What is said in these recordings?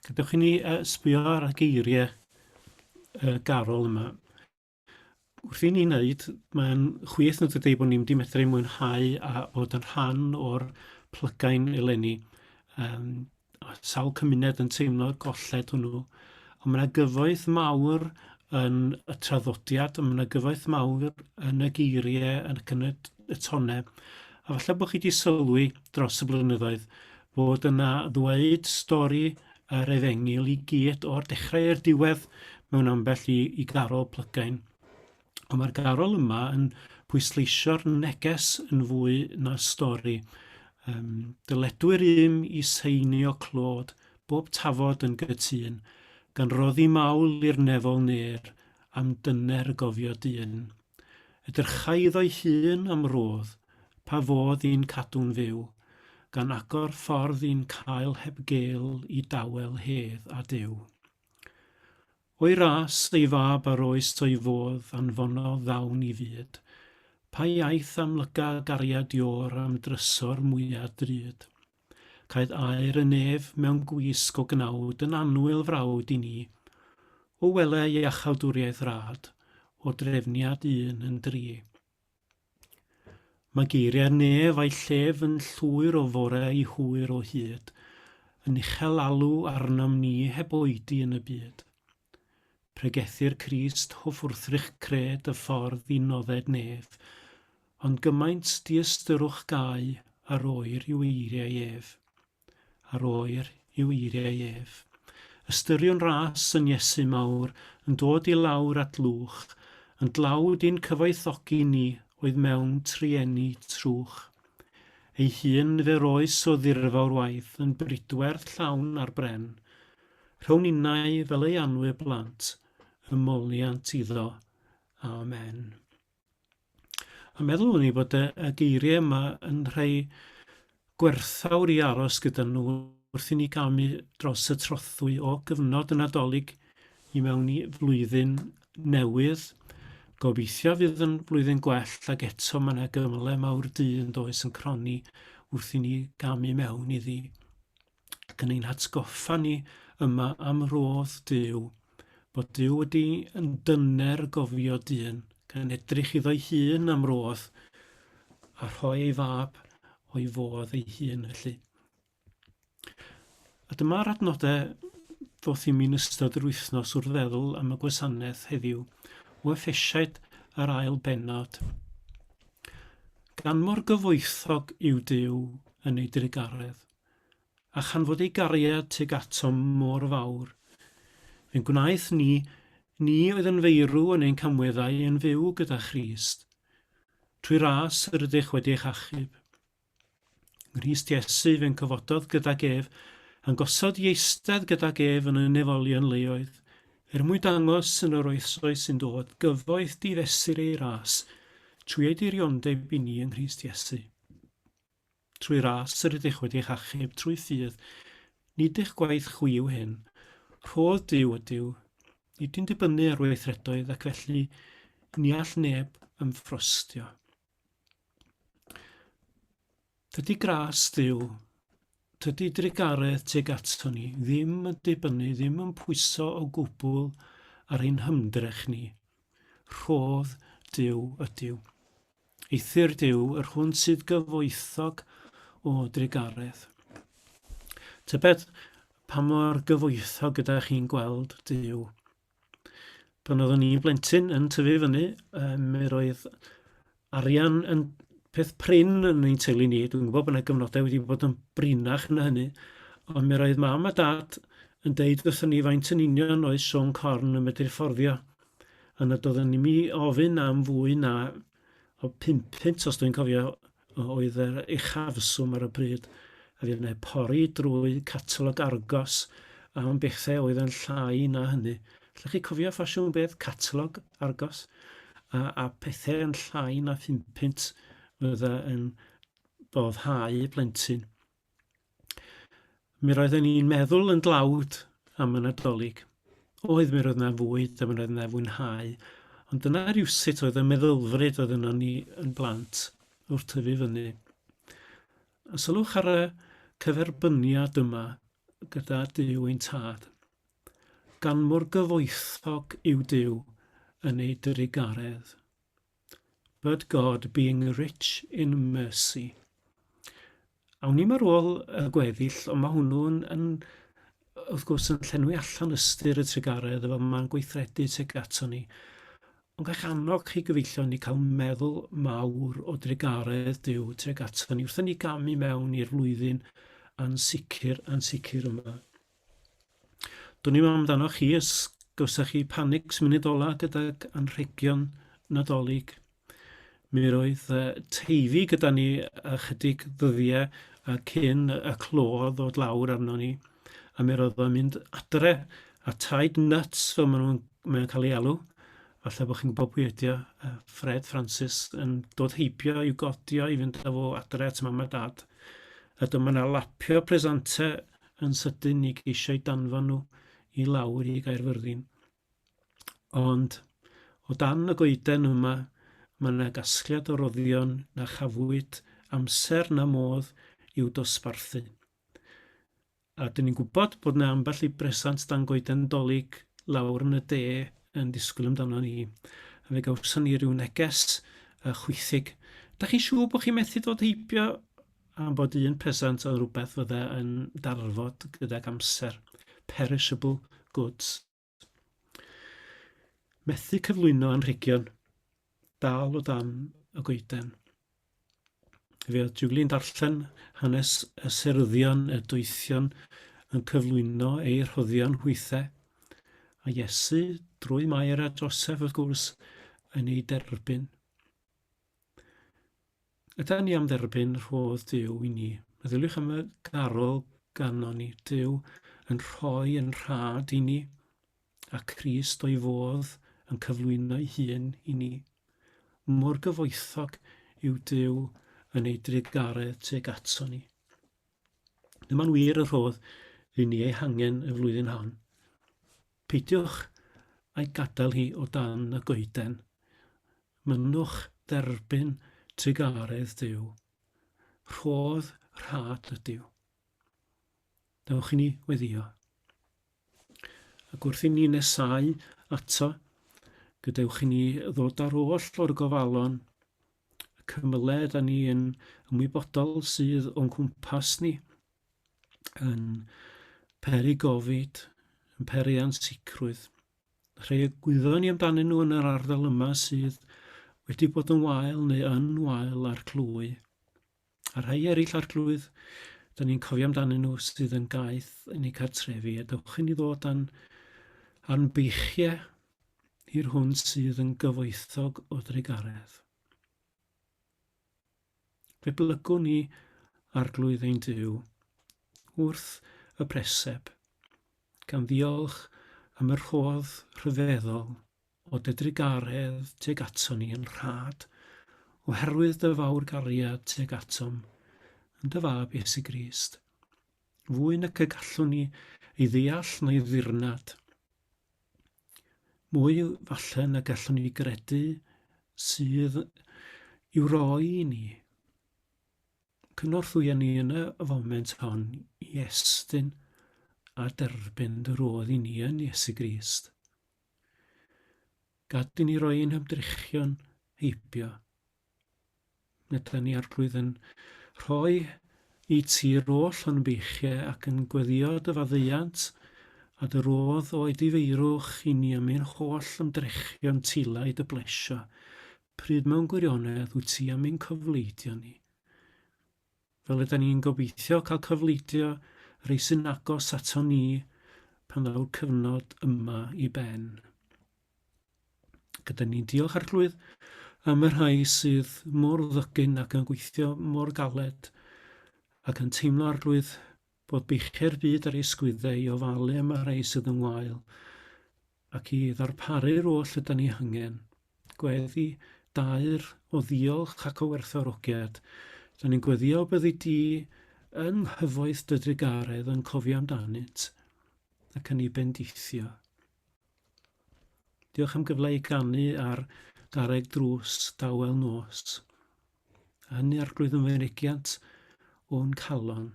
Gadewch i ni uh, sbio ar y geiriau uh, garol yma. Wrth i ni wneud, mae'n chwith nad ydy bod ni'n wedi medru mwynhau a bod yn rhan o'r plygain eleni. Um, sawl cymuned yn teimlo'r golled hwnnw. Ond mae yna gyfoeth mawr yn y traddodiad, ond mae yna gyfoeth mawr yn y geiriau, yn y, y tonau. A falle bod chi wedi sylwi dros y blynyddoedd fod yna ddweud stori yr efengyl i gyd o'r dechrau i'r diwedd mewn ambell i, i garol plygain. Ond mae'r garol yma yn pwysleisio'r neges yn fwy na stori. Um, dyledwyr ym i seinio clod, bob tafod yn gytun, gan roddi mawl i'r nefol ner am dyner y gofio dyn. Edrychai iddo'i hun am rodd pa fodd i'n cadw'n fyw, gan agor ffordd i'n cael heb gel i dawel hedd a Duw. O'i ras, ei fab a'r oes o'i fodd anfonodd ddawn i fyd, pa iaith amlyca gariad Io'r am drysor mwya drud? Caed aer y nef mewn gwisg o gnawd yn annwyl frawd i ni. O wele iachawdwriaeth rad, o drefniad un yn dri. Mae geiriau'r nef a'i llef yn llwyr o fore i hwyr o hyd, yn uchel alw arnom ni heb oedi yn y byd. Pregethir Crist hoff wrthrych cred y ffordd i nodded nef, ond gymaint diystyrwch gau ar oer yw eiriau ef. Ar oer yw eiriau ef. Ystyriwn ras yn Iesu mawr yn dod i lawr at lwch, yn dlawd i'n cyfoethogi ni oedd mewn trueni trwch. Ei hun nifer oes o ddirfawr waith yn bridwerth llawn ar bren, Rho ninnau fel ei anwyr blant, ymoliant iddo. Amen. A meddwl ni bod y, y geiriau yma yn rhai gwerthawr i aros gyda nhw wrth i ni gamu dros y trothwy o gyfnod y Nadolig i mewn i flwyddyn newydd. Gobeithio fydd yn flwyddyn gwell ac eto mae yna gymle mawr dyn does yn croni wrth i ni gamu mewn iddi. ac yn ein hatgoffa ni yma am rodd Dyw, bod Dyw wedi yn dyner gofio dyn, gan edrych iddo'i hun am rodd, a rhoi ei fab o'i fodd ei hun felly. A dyma'r adnodau ddoth i mi'n ystod yr wythnos wrth feddwl am y gwasanaeth heddiw o effesiaid yr ail benod. Gan mor gyfoethog yw Dyw yn ei drugaredd. a chan fod ei gariad tuag atom mor fawr, fe'n gwnaeth ni, ni oedd yn feirw yn ein camweddau yn fyw gyda Christ, trwy ras yr ydych wedi eich achub. Nghrist Iesu fe'n cyfododd gydag ef, a'n gosod i eistedd gydag ef yn y nefolion leoedd, er mwyn dangos yn yr oesoedd sy'n dod gyfoeth difesur ei ras, trwy ei diriondeb i ni yng Nghrist Iesu. Trwy ras yr ydych wedi'ch achub trwy ffydd, nid eich gwaith chwi yw hyn, rhodd Duw ydyw, nid yn dibynnu ar weithredoedd ac felly ni all neb ymffrostio. Tydi gras Duw, tydi drugaredd tuag ato ni ddim yn dibynnu, ddim yn pwyso o gwbl ar ein hymdrech ni, rhodd Duw ydyw. Eithr Duw yr hwn sydd gyfoethog o drugaredd. Tybed pa mor gyfoethog ydych chi'n gweld Duw? Pan oeddwn i'n blentyn yn tyfu fyny, mi roedd arian yn peth prin yn ein teulu ni. Dwi'n gwybod bod yna gyfnodau wedi bod yn brinach na hynny, ond mi roedd mam a dad yn deud wrthyn ni faint yn union oedd swm corn yn medru fforddio. Ond nad oeddwn i mi ofyn am fwy na o pump punt, os dwi'n cofio, oedd yr uchafswm ar y pryd. A fi wneud pori drwy catalog argos am bethau oedd yn llai na hynny. Llech chi cofio ffasiwn beth catalog argos? A, a pethau yn llai na phump punt fydda yn boddhau plentyn. Mi roedden ni'n meddwl yn dlawd am y Nadolig. Oedd mi roedd 'na fwyd a mi roedd 'na fwynhau, ond dyna rywsut oedd y meddylfryd oedd yno ni yn blant wrth tyfu fyny. A sylwch ar y cyferbyniad yma gyda Duw ein Tad. Gan mor gyfoethog yw Duw yn ei drugaredd. But God being rich in mercy. Awn ni'm ar ôl y gweddill, ond mae hwnnw'n yn, wrth gwrs, yn llenwi allan ystyr y trugaredd, efo mae'n gweithredu tuag ato ni. Ond ga'ch annog chi gyfeillion ni cael meddwl mawr o drugaredd Duw tuag ato ni wrth i ni gamu mewn i'r flwyddyn ansicr, ansicr yma. Dwn i'm amdanoch chi os gawsoch chi panics munud ola gydag anrhegion Nadolig. Mi roedd uh, teifi gyda ni ychydig ddyddiau a cyn y clo ddod lawr arno ni. A mi roedd o'n mynd adre a taid nuts fel maen nhw'n mae cael ei alw. Falle bod chi'n gwybod pwy ydy o. Uh, Fred Francis yn dod heibio i'w godio i fynd â fo adre at mam a dad. A dyma na lapio presenter yn sydyn i geisiau danfon nhw i lawr i Gaerfyrddin. Ond, o dan y goeden yma, mae yna gasgliad o roddion na chafwyd amser na modd i'w dosbarthu. A dyn ni'n gwybod bod yna ambell i bresant dan goeden dolyg lawr yn y de yn disgwyl amdano ni. A fe gawson ni ryw neges a chwythig. Da chi'n siŵr bod chi'n methu dod heibio am bod un presant oedd rhywbeth fydde yn darfod gydag amser, perishable goods. Methu cyflwyno anrhegion, dal o dan y goeden. Fe oedd Julian darllen hanes y seryddion y doethion yn cyflwyno ei rhoddion hwythau, a Iesu drwy Mair a Joseph wrth gwrs yn ei derbyn. Ydan ni am dderbyn rhodd Duw i ni? Meddyliwch am y garol ganon ni. Duw yn rhoi yn rhad i ni, a Christ o'i fodd yn cyflwyno'i hun i ni. Mor gyfoethog yw Duw yn ei drugaredd tuag ato ni. Dyma'n wir y rhodd i ni ei hangen y flwyddyn hon. Peidiwch â'i gadael hi o dan y goeden. Mynnwch dderbyn trugaredd Duw. Rhodd rhad ydyw. Dewch i ni weddio. Ac wrth i ni nesau ato, gadewch i ni ddod ar oll o'r gofalon, y cymylau da ni yn ymwybodol sydd o'n cwmpas ni, yn peri gofid, yn peri ansicrwydd. Rhai y gwyddon ni amdanyn nhw yn yr ardal yma sydd wedi bod yn wael neu yn wael ar glwy. A rhai eraill ar glwydd, da ni'n cofio amdanyn nhw sydd yn gaeth yn eu cartrefi. A dewch i ni ddod dan a'n beichiau i'r hwn sydd yn gyfoethog o drugaredd. Fe blygwn ni Arglwydd ein Duw wrth y preseb, gan ddiolch am y rhodd rhyfeddol o dy drugaredd tuag aton ni yn rhad, oherwydd dy fawr gariad tuag atom, yn dy Fab Iesu Grist, fwy nac y gallwn ni ei ddeall na'i ddirnad. Mwy, falle, na gallwn ni gredu sydd i'w roi i ni. Cynorthwya ni yn y foment hon i estyn a derbyn dy rodd i ni yn Iesu Grist. Gad i ni roi ein hymdrechion heibio Ydy ni Arglwydd yn rhoi i ti'r oll o'n beichiau ac yn gweddio dy faddeuant a dy rodd o'i difeirwch i ni am ein holl ymdrechion tila i dy blesio, pryd mewn gwirionedd wyt ti am ein cofleidio ni. Fel ydan ni'n gobeithio cael cofleidio rei sy'n agos aton ni pan ddaw'r cyfnod yma i ben. Gyda ni'n diolch arglwydd am y rhai sydd mor ddygyn ac yn gweithio mor galed ac yn teimlo arglwydd bod beichiau'r byd ar ei sgwyddau i ofalu am y rhai sydd yn wael ac i ddarparu'r oll yda ni hangen. Gweddi daer o ddiolch ac o werthfawrogiad. Da ni'n gweddio byddi di yng nghyfoeth dy drugaredd yn cofio amdanynt ac yn ei bendithio. Diolch am gyfle i ganu ar garreg drws dawel nos. yn yr Arglwydd yn fynegiant o'n calon.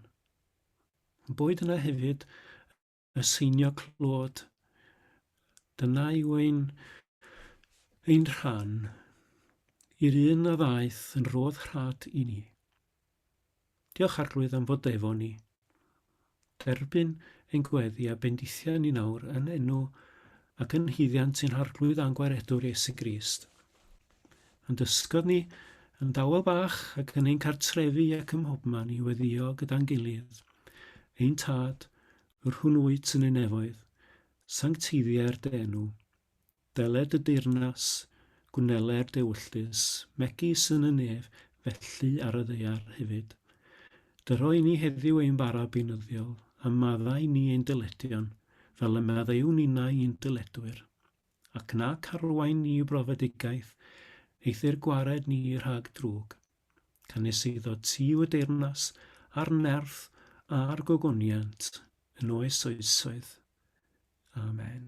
Yn boed yna hefyd y seinio clod, dyna yw ein, ein rhan i'r un a ddaeth yn rodd rhad i ni. Diolch Arglwydd am fod efo ni. Derbyn ein gweddi a bendithia ni nawr yn enw ac yn nhuddiant i'n Harglwydd a'n Gwaredwr Iesu Grist. Yn dysgod ni, yn dawel bach ac yn ein cartrefi ac ym mhobman i weddio gyda'n gilydd. Ein Tad, yr hwn wyt yn ei nefoedd, sancteiddia'r dy enw. Dyled y deyrnas, gwnelai'r dewyllys, megis yn y nef, felly ar y ddaear hefyd. Dyro i ni heddiw ein bara beunyddiol, a maddau ni ein dyledion, fel y maddeuwn innau i'n dyledwyr. Ac na charwain ni i brofedigaeth, eithr gwared ni rhag drwg. cynnes iddo ti y deyrnas a'r nerth a'r gogoniant yn oes oesoedd. Amen.